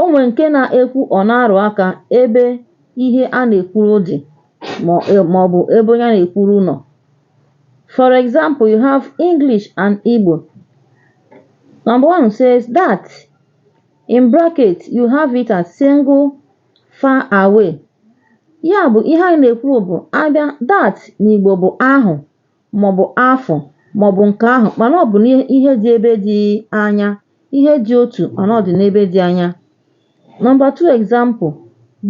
O nwere nke na-ekwu ọ na-arụ aka ebe ihe a na-ekwuru dị ma ọ bụ ebe onye a na-ekwuru nọ. For example, you have English and Igbo. Number one says that in bracket you have it as single far away. Ya bụ ihe anyị na-ekwu bụ a bịa that n'Igbo bụ ahụ maọbụ afụ maọbụ nke ahụ mana ọ bụ n'ihe dị ebe dị anya ihe dị otu mana ọ dị n'ebe dị anya number two example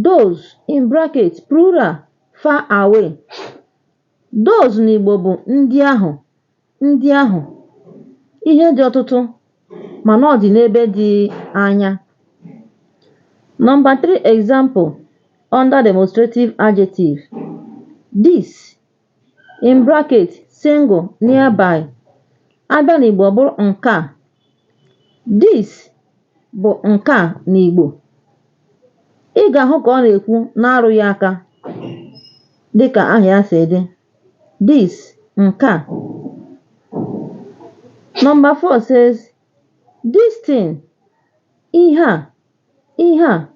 those in bracket plural far away those n'Igbo bụ ndị ahụ ndị ahụ ihe dị ọtụtụ mana ọ dị n'ebe dị anya number three example under demonstrative adjective this in bracket single nearby a bịa n'Igbo ọ bụrụ nke a this bụ nke a n'Igbo ị ga-ahụ ka ọ na-ekwu na-arụ ya aka dịka aha ya si dị this nke a number four says this thing ihe a ihe a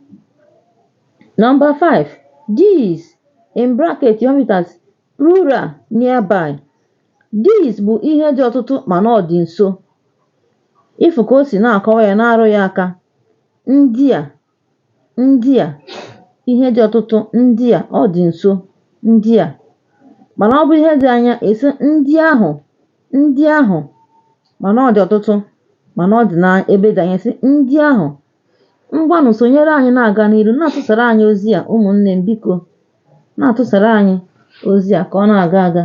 number five these in bracket you have it as plural nearby these bụ ihe dị ọtụtụ mana ọ dị nso ị fụ ka o si na-akọwa ya na-arụ ya aka ndị a ndị a ihe dị ọtụtụ ndị a ọ dị nso ndị a mana ọ bụrụ ihe dị anya ị sị ndị ahụ Ndị ahụ mana ọ dị ọtụtụ mana ọ dị na ebe dị anya sị ndị ahụ ngwanụ sonyere anyị na-aga n'iru na-atụsara anyị ozi a ụmụnne m biko na-atụsara anyị ozi a ka ọ na-aga aga